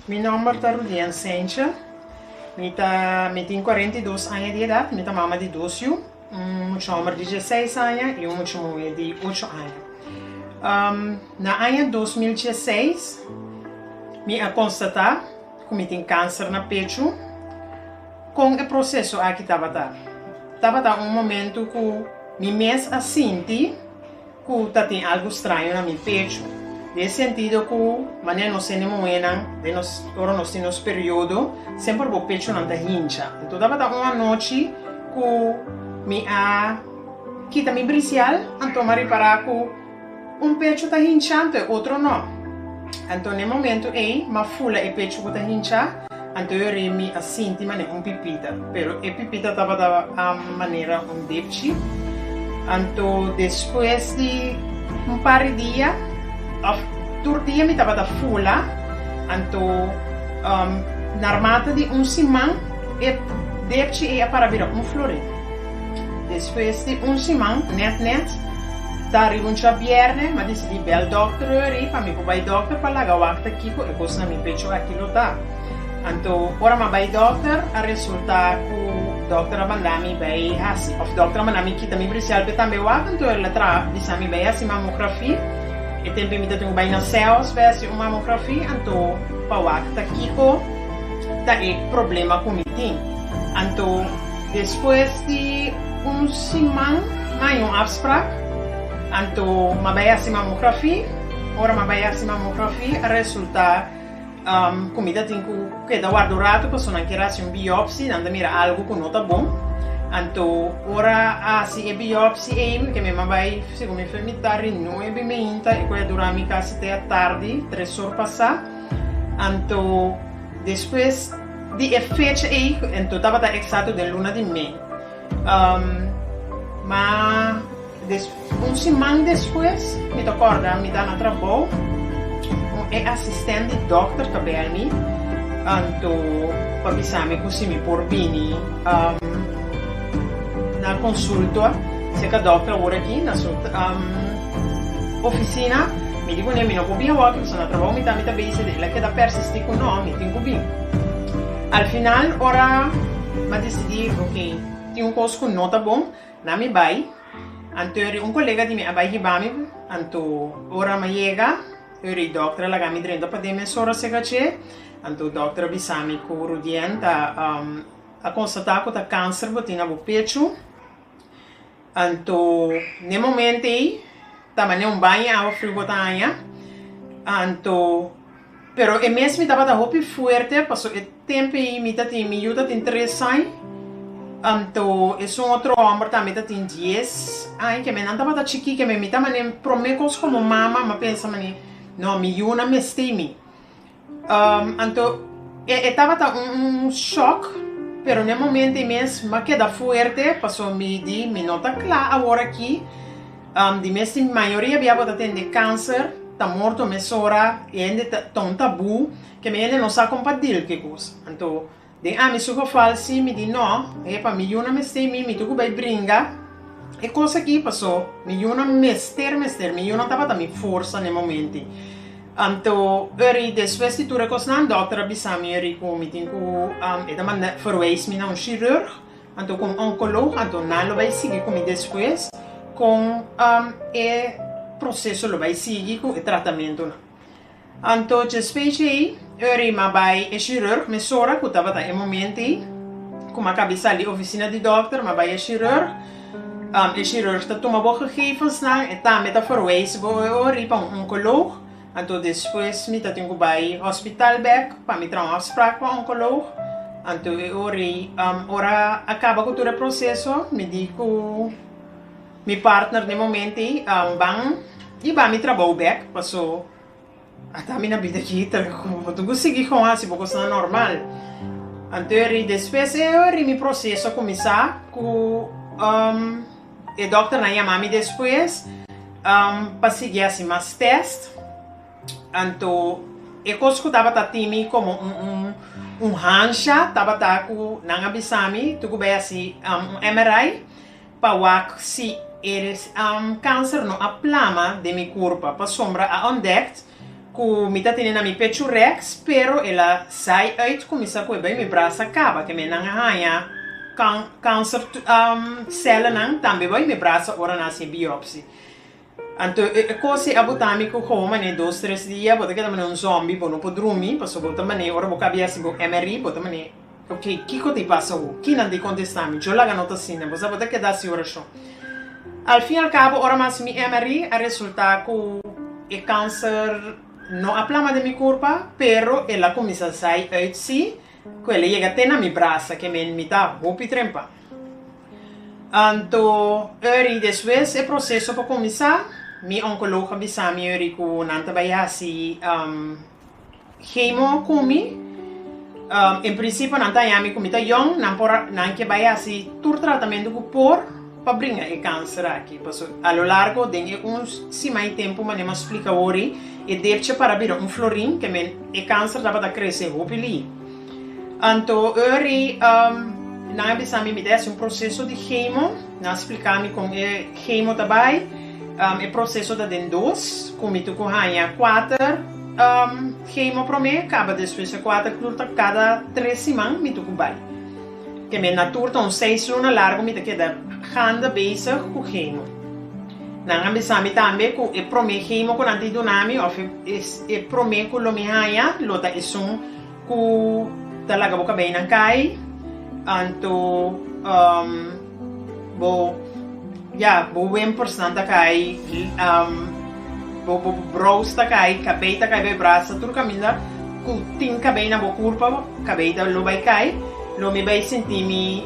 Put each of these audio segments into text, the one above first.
Mi nomber ta Rudien Sencha, mi ta mi tin cuarenta y dos aña di edad, mi ta mama di dos yu, un mucha homber di dieseis aña y un mucha muhe di ocho aña. Na aña dos mil dieseis mi a constata cu mi tin cancer na pechu, con e proceso aki tabata? Tabata un momento cu mi mes a sinti. Ku ta tin algu straño na mi pechu, den sentido ku manera nos hende muhénan den nos ora nos tin nos periodo semper bo pechunan ta hincha. Anto tabata un anochi ku mi a kita mi brisial anto mi a repará ku un pechu ta hinchá anto e otro no. Anto na e momentu ei mi a fula e pechu ku ta hinchá. Anto yo rin mi a sinti manera un pipita, pero e pipita tabata a manera un depchi. Anto despues di un par di dia, of tur dia mi tabata fula, anto um, na armata di un siman e depchi ei a para bira un florin. Despues di un siman, nèt nèt, ta riba un chabièrnè, m'a disidí bèl dòkter Rueri pa mi por bai dòkter pa laga wakta kiko e kos na mi pecho aki lo ta. Anto, ora m'a bai dòkter, a resultá ku dòkter a manda mi bai hasi, òf dòkter a manda mi kita mi brisial p'e tambe wak, anto el a traha bisa mi bai hasi mamografí. E tempe mi ta tin ku bai na Seos bai hasi un mamografí, anto pa wakta kiko ta e problema ku mi tin. Anto. Despues di un siman na yon afsprak, anto m'a bai hasi mamografi. Ora m'a bai hasi mamografi a resultá ku mi ta tin ku keda warda un ratu pasobra nan kier hasi un biòpsi, nan ta mira algu ku no ta bon. Anto ora a hasi e biòpsi ei, mi ke mi m'a bai, segun mi fami ta ri nuebe i meinta, e ku a dura mi kasi te a tardi, tres or pasá. Anto despues. Di e fecha ei, enton tabata eksato den luna di mei. Ma un siman despues mi ta kòrda mi ta na trabou, ku e asistènt di dòkter ta bel mi anto pa bisa mi ku si mi por bini na konsulta, seka dòkter awor aki na su. Ofisina, Mi di kuné, mi no por bin awa ku kusnan ta trabao mitá mi ta bese di el a keda persistí ku no, mi tin ku bin. Al final ora mi a disidí, ok, tin un kos ku no ta bon, nan mi bai, anto eri un kolega di mi a bai hiba mi, anto ora mi a yega, eri dòkter a laga mi drenta padé mes ora sega dje, anto dòkter a bisa mi ku Rudien ta a konstatá ku ta kanser bo tin na bo pechu. Anto n'e momento ei ta manera un baño awa friu bo ta haña, anto pero e mes mi tabata hopi fuerte pasobra e tempo ei mi ta tin, mi yu ta tin tres aña, anto esun otro homber tambe ta tin dies aña, keme nan tabata chikí, keme mi ta manera prome cos como mama, mi a pensa manera no mi yu no a mestei mi. Anto e tabata un shock, pero n'e momento ei mes m'a keda fuerte, paso mi di mi no ta cla awor aki, di mes tin mayoria bia bo ta tende cancer, ta morto mesora, e hende ta un tabú, ke mi hende no sa con pa deal ke cos, anto. Den ami su geval si mi di no, e pa mi yuna mester mi mi tur ku bai bringa e kos aki paso mi yuna mester mester mi yuna tabata mi forsa n'e momenti. Anto ori despues di tur e kosnan dòkter a bisa mi ori ku mi tin ku e ta manda verwijs mi na un shirurg anto ku un onkolog anto nan lo bai sigui ku mi despues kon e proseso lo bai sigui ku e tratamentunan. Anto dje specie ei Uri ma bai e chirurg mesora cu tabata e momento ei cu ma cabi sali di oficina di dokter ma bai e chirurg, e chirurg ta tuma bo gegevensnan e tambe ta verwijzen bo e Uri pa un oncoloog, anto despues mi ta tin cu bai hospital bek pa mi traha un afspraak pa oncoloog, anto e Uri ora a caba cu tur e proceso mi di cu. Mi partner den momento ei ban iba mi trabou bek paso ata mi na bida aki ta como tu cu sigui con haci bo cosnan normal anto eri despues e ori mi proceso cuminsa cu e doctor nan yama mi despues pa sigui haci mas test anto e cos cu tabata tin mi como un hansha tabata cu nan a bisa mi tu cu bay haci un MRI. Pa wak si e kanser no a plama den mi kurpa, pasobra a ontdekt ku mi ta tene na mi pechu rèks, pero el a sai uit ku mi sa ku e bai mi brasa kaba, te menan a haña kanser sèlnan tambe bai mi brasa ora nan hasi biòpsi. Anto e cosi a buta mi cu homo manera dos tres dia bo ta keda manera un zombie bo no por drumi paso bo ta manera ora bo cabia si bo emery bo ta manera ok kico ta pasa awo kinan ta contesta mi yo laga no ta asina bo sa bo ta keda haci oracion al fin al cabo ora mas mi emery a resulta cu e cancer no a plama den mi curpa pero el a cuminsa zai uit si. Cu el a yega te na mi brasa ke men mi ta hopi trempa. Anto uri despues e proceso por cuminsa, mi oncoloog a bisa mi uri cu nan ta bay hasi chemo cu mi. En principio nan ta haña mi cu mi ta jong, nan por, nan ke bay hasi tur tratamento cu por. pa bringa e kanser aki paso a lo largo den e un sima i tempu mane mas splika wori e depcha para bira un florin te men e kanser tabata krese hopi li anto ori nan a bisa mi mi ta hasi un proseso di hemo nan a splika mi kon e hemo ta bai e proseso ta den dos ku mi tuku haña kuater hemo prome kaba despues e kuater klur ta kada tres siman mi tuku bai. Te me na tur ta un seis luna largu mi ta keda ganda bezig ku hemo. Nan a bisa mi tambe ku e promé hemo ku nan tin duna mi òf e promé ku lo mi haña lo ta esun ku ta laga bo kabei nan kai, anto. Bo, ya, bo wen personal ta kai, um, bo, bo, bo brows ta kai, cabei ta kai, bo brasa, tur caminda, cu tin cabei na bo curpa, cabei ta lo bai kai, lo mi bai sinti mi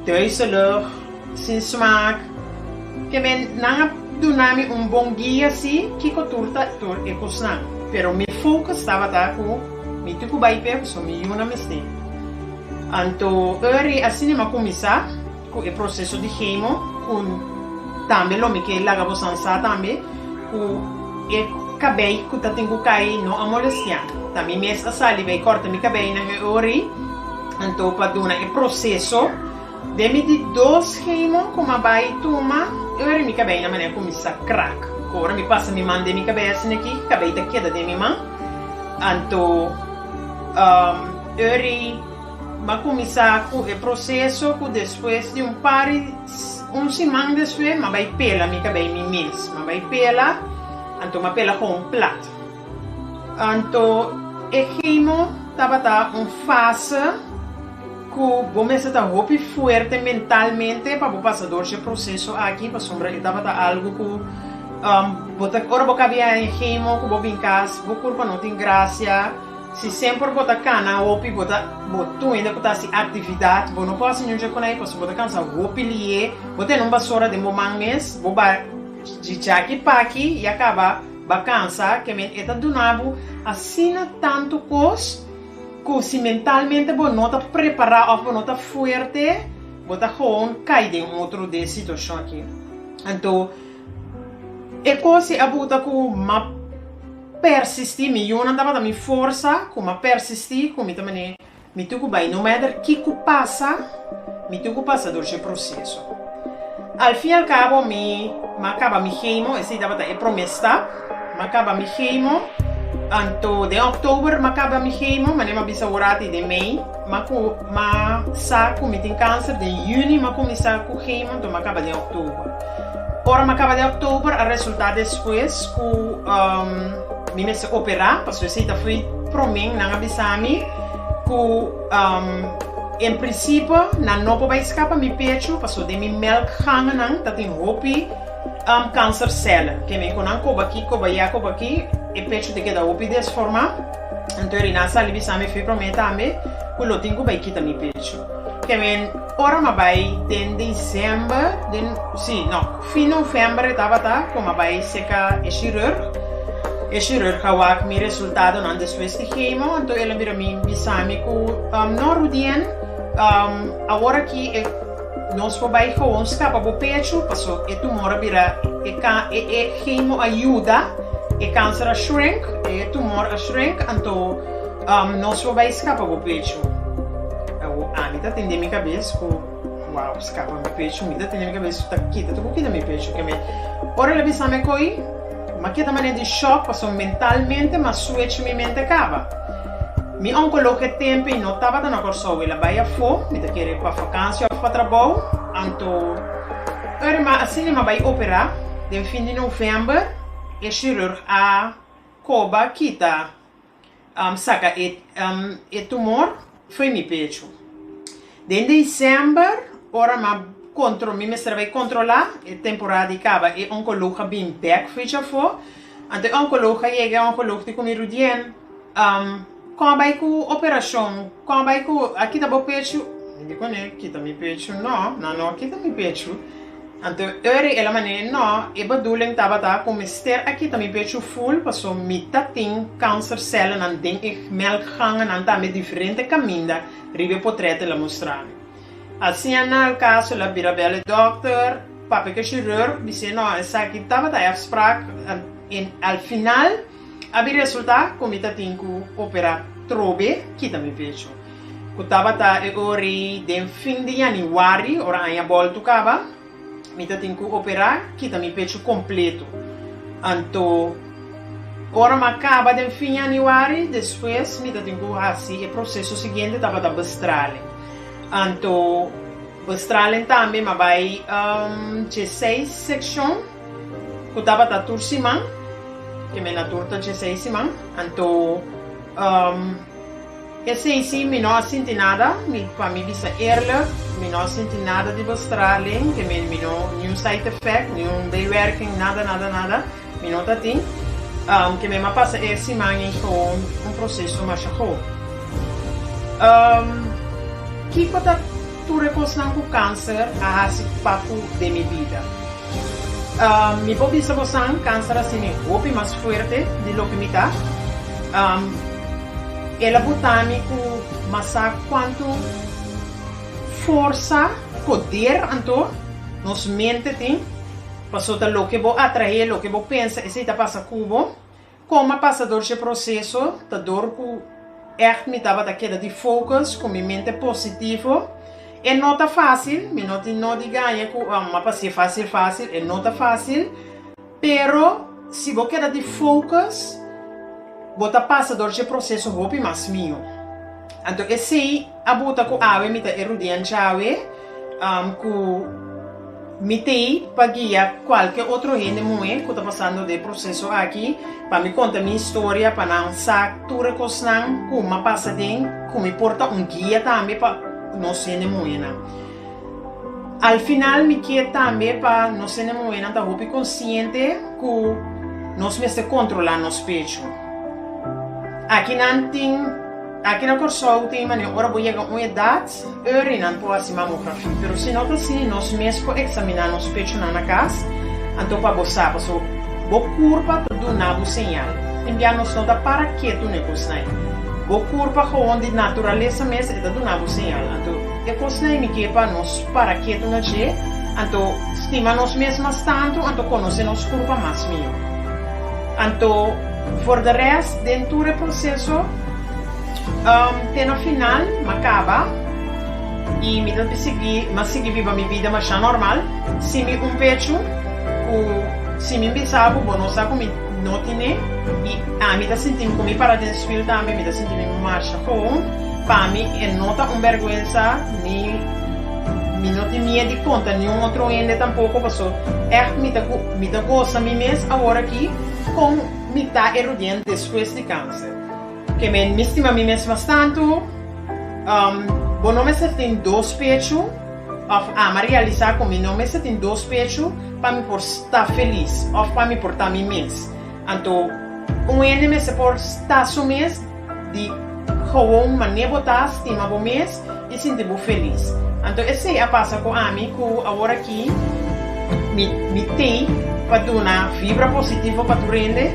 duizelig, sin smaak, ke me nan a duna mi un bon guia si, kico tur ta tur e cosnan. Pero mi focus tabata cu mi tin cu bai p'e, so mi yuna mester. Anto Uri a sinima kuminsá ku e proseso di hemo ku tambe lo mi ke laga bosan sa tambe ku e kabei ku ta tin ku kai no a molestiá. Ta mi mes a sali bai kòrta mi kabeinan e Uri. Anto pa duna e proseso den mi di dos hemo ku mi a bai tuma Uri mi kabei na manera kuminsá krak. Ku ora mi pasa mi man den mi kabei asin'aki kabei ta keda den mi man anto. Urry ba kuminsá ku e proseso ku despues di un par di un siman despues m'a bai pela mi kabei mi mes. M'a bai pela, anto m'a pela ku un plat. Anto e chemo tabata un fase ku bo mester ta hopi fuerte mentalmente pa bo pasa dor dje proseso aki pasobra e tabata algu ku bo ta ora bo kabia e chemo ku bo bin kas bo kurpa no tin grasia. Si semper bo ta kana hopi bo ta bo tuende ku ta hasi aktividat bo no por hasi nunchi kuné pasobra bo ta kansa hopi lié bo tene un basora den bo man mes bo ba djichaki paki i a kaba ba kansa ke men e ta duna bo asina tantu kos ku si mentalmente bo no ta prepará òf bo no ta fuerte bo ta gewoon kai den otro de e situashon aki anto e kos e a buta ku map. Persistí, mi yunan tabata mi forsa ku mi a persistí ku mi ta manera mi tin ku bai no mèter ki ku pasa, mi tin ku pasa dor dje proseso. Al fin al kabo mi a kaba mi hemo, esei tabata e promé stap, mi a kaba mi hemo, anto den òktober mi a kaba mi hemo, manera mi a bisa Horatii den mei. Ma ku ma sa ku mi tin kanser den yüni ma kuminsá ku khemonto ma kaba den òktober. Ora ma kaba den òktober a resultá despues ku mi mester operá pasobra esei ta foi promé. Nan a bisa mi ku en prinsipio nan no por bai skapa mi pechu pasobra den mi mèlkgangennan ta tin hopi kansersèlen. Ke men ku nan koba aki koba ya koba aki e pechu ta keda hopi desformá. Anto Riná sali bisa mi fi promé tambe ku lo tin ku bai kita mi pecho. Ke men ora mi a bai den desèmber, den, sí, no, fin novèmber e tabata ku mi a bai seka e shirurg. E shirurg a wak mi resultadonan despues di hemo, anto el a mira mi bisa mi ku, No Rudien, awor aki e. Nos por bai gewoon stapa bo pechu paso e tumor a bira e ka e e chemo a yuda e kanser a shrink e e tumor a shrink anto umm nos por bai skapa bo pechu awo ami ta tende mi kabes ku wow skapa mi pechu mi ta tende mi kabes ku ta kita tukuki na mi pechu ke me ora el a bisa me koi. Ma keda manera di shock pasobra mentalmente mas suecho mi mente caba. Mi oncologo e tempo y no tabata na Corsou, el a bay afo, mi ta kere pa facancia of pa trabou, anto ora mi asina mi a bay opera den fin di november e chirurg a coba kita. Saka e tumor fo'i mi pechu. Den december, ora m'a contro, mi mester a bai controla, e temporada di caba, e oncoloog a bin bek fo'i chafó. Anto e oncoloog a yega, e oncoloog di cu mi rudien, Con a bai cu operacion? Con a bai cu a kita bo pechu? Mi di cun'e, Kita mi pechu no, nan no a kita mi pechu. Anto Uri el a mané, Nò, e baduleng tabata ku mester aki ta mi pechu ful, paso mi ta tin kansercèllenan den e melkgangenan tambe diferente kaminda riba e potret el a mustrá mi. Asinan el kaso el a bira bel e dòkter, papia ku e shirurg, bis'é, Nò, esaki tabata e afsprak, en al final, A bin resultá ku mi ta tin ku operá tro be kita mi pecho. Ku tabata e ori den fin di yanüari, ora aña bòltu kaba, mi ta tin ku operá kita mi pecho kompletu. Anto ora m'a kaba den fin yanüari, despues mi ta tin ku hasi e proseso siguiente tabata Bestralen. Anto Bestralen tambe m'a bai dje seis sekshon. Cu tabata tur siman, e me na tur ta dje seis siman, anto, um, e seisi mi no a sinti nada, mi, pa mi bisa eerlijk, mi no a sinti nada di bostra alen, ke me, mi no, niun side effect, niun bijwerking, nada, nada, nada, mi no ta tin, um, ke me ma pasa e siman ei gewoon un proceso masha goe. Um, kico ta. Tur e kosnan ku kanser a hasi papu den mi bida. Mi por bisa bosan, kanser a hasi mi hopi mas fuerte di loke mi ta. El a botá mi ku masá kuantu forsa, poder anto nos mente tin, pasobra ta loke bo atraé, loke bo pensa esei ta pasa ku bo. Coma pasa dor dje proceso ta dor cu echt mi tabata keda di focus cu mi mente positivo. E no ta facil, mi no tin no di gaña cu a m'a pas'é facil facil, e no ta facil. Pero si bo keda di focus bo ta pasa dor dje proceso hopi mas miho. Anto esey. A buta ku awe mi ta e rudean djawe ku mi tei pa guia kualke otro hende muhe ku ta pasando den e proseso aki, pa mi konta mi historia pa nan sa tur e kosnan ku mi a pasa den, ku mi por ta un guia tambe pa nos hende muhenan. Al final mi kier tambe pa nos hende muhenan ta hopi konsiente ku nos mester kontrolá nos pechu. Aki nan tin. Aki na Kòrsou tin manera ora bo yega un edat, Öri nan por hasi mamografi. Pero si no ta así, nos mes por eksaminá nos pechonan na kas, anto pa bo sa. Paso bo kurpa ta duna bo señal. Tin bia nos no ta para ketu n'e kosnan. Bo kurpa gewoon di naturalesa mes e ta duna bo señal. Anto e kosnan mi ke pa nos para ketu na dje, anto stima nos mes mas tantu, anto konosé nos kurpa mas mihó. Anto for de rest den tur e proseso, Te na final m'a kaba i mi ta sigui m'a sigui biba mi bida mashá normal sin mi un pechu ku si mi bisa bo bo no sa ku mi no tine i a mi ta sinti'm ku mi para den swil tambe mi ta sinti'm mi masha houn pa mi e no ta un bèrgwensa ni mi no tin miet di konta niun otro hende tampoko paso ègt mi ta mi ta gosa mi mes aworakí kon mi ta e rudiente despues di kanser. Ke me mi stima mi mes mas tantu, um, bo no mester tin dos pechu, of ama realisa ku mi no mester tin dos pechu pa mi por sta felis of pa mi por ta mi mes. Anto un hende mester por sta su mes di gowon mané bo ta, stima bo mes, I sinti bo felis. Anto esei a pasa ku ami ku aworakí mi tei pa duna vibra positivo pa tur hende,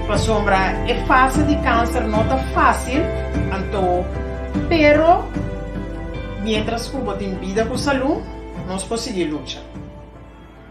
pasobra e fase di kanser no ta fásil, anto pero miéntras ku bo tin bida ku salú nos por sigui lucha.